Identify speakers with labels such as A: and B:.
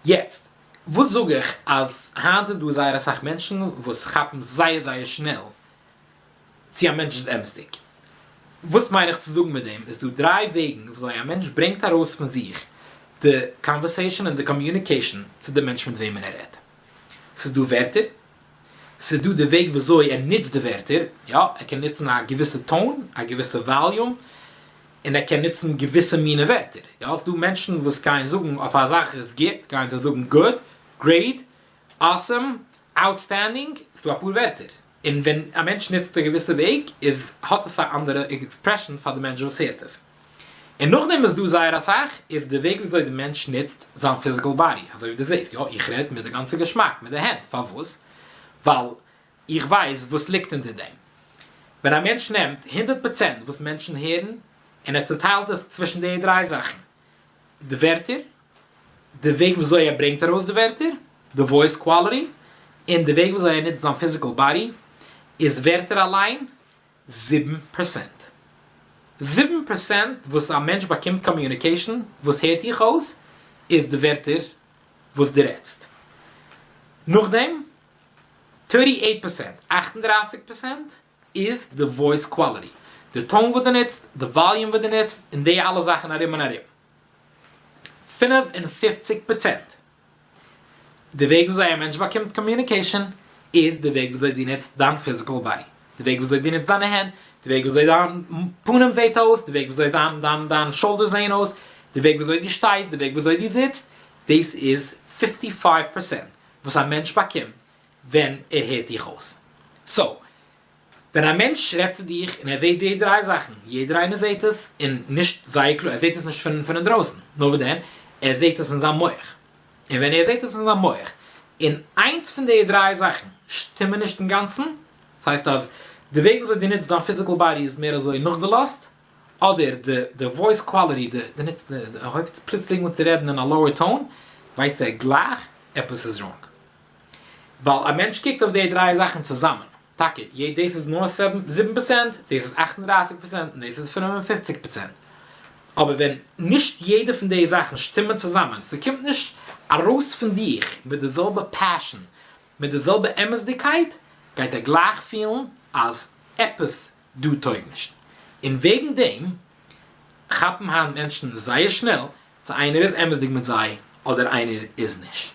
A: יעצט, וואס זאג איך אז היינט איז דא זייער אסאך מענטשן וואס כאפן זייער זייער שנעל צו א מענטש איז אמת'דיג. וואס מיין איך צו זאגן מיט דעם, עס דא דריי וועגן וויאזוי א מענטש ברענגט ארויס פון זיך די קאנווערסעישאן און די קאמיוניקעישאן צו די מענטש מיט וועמען ער רעדט. ס'איז דא ווערטער. ס'דא די וועג וויאזוי ער נוצט די ווערטער, יא, ער קען נוצן א געוויסע טאון, א געוויסע וואליום, און ער קען נוצן געוויסע מיני ווערטער, יא, ס'דא מענטשן וואס גייען זאגן אויף א זאך איז גוט, גייען זיי זאגן גוד, גרעיד, אסעם, אוטסטענדינג, ס'דא אפאר ווערטער, און ווען א מענטש נוצט א געוויסע וועג איז האט עס א אנדערע עקספרעשאן פאר די מענטש וואס הערט עס. און נאכדעם איז דא זייער אסאך איז די וועג וויאזוי די מענטש נוצט זיין פיזיקעל באדי אזוי ווי די זעהסט יא איך רעד מיט די גאנצע געשמאק מיט די הענט פארוואס ווייל איך ווייס וואס ליגט אונטער דעם ווען א מענטש נעמט הונדערט פראצענט וואס מענטשן הערן און ער צוטיילט עס צווישן די דריי זאכן די ווערטער די וועג וויאזוי ער ברענגט ארויס די ווערטער די וואויס קוואליטי און די וועג וויאזוי ער נוצט זיין פיזיקעל באדי איז ווערטער אליין זיבן פראצענט. זיבן פראצענט וואס א מענטש באקומט קאמיוניקעישן וואס הערט דיך אויס איז די ווערטער וואס דו רעדסט. נאכדעם, טערטי עיט פראצענט, אַכט און דרײַסיק פראצענט, איז די וואויס קוואליטי, די טאון וואס דו נוצט, די וואליום וואס דו נוצט, און די אלע זאכן ארום און ארום. פֿינף און פֿופֿציק פראצענט. די וועג וויאזוי א מענטש באקומט קאמיוניקעישאן איז די וועג וויאזוי דו נוצט דיין פיזיקעל באדי, די וועג וויאזוי דו נוצט דיינע הענט, די וועג וויאזוי דיין פנים זעהט אויס, די וועג וויאזוי דיין דיין דיין שאלדערס זעהן אויס, די וועג וויאזוי דו שטייסט, די וועג וויאזוי דו זיצט, דאס איז פֿיפֿטי פֿייוו פראצענט וואס א מענטש באקומט ווען ער הערט דיך אויס. סאו, ווען א מענטש רעדט צו דיך און ער זעהט די דריי זאכן, יעדער איינער זעהט עס, און נישט זייער קלאר, ער זעהט עס נישט פון פון אינדרויסן, נאר וואס דען, ער זעהט עס אין זיין מח, און ווען ער זעהט עס אין זיין מח, און איינס פון די דריי זאכן שטימען נישט אינגאנצן, דאס הייסט אז די וועג וויאזוי דו נוצט דיין פיזיקל באדי איז מער אזוי נאכגעלאזט, אדער די די וואויס קוואליטי, די די נוצט די ער הויבט פלוצלינג אן צו רעדן אין א לאוער טאון, ווייסט ער גלייך עפעס איז ראנג. ווייל א מענטש קוקט אויף די דריי זאכן צוזאמען, טאקע יעדע דאס איז נאר זיבן פראצענט, דאס איז אַכט און דרײַסיק פראצענט און דאס איז פֿינף און פֿופֿציק פראצענט, אבער ווען נישט יעדע פון די זאכן שטימען צוזאמען, ס'קומט נישט ארויס פון דיך מיט די זעלבע פעשן, מיט די זעלבע אמת'דיגקייט, גייט ער גלייך פילן אז עפעס דא טויג נישט. און וועגן דעם כאפן היינט מענטשן זייער שנעל צו איינער איז אמת'דיג מיט זיי אדער איינער איז נישט.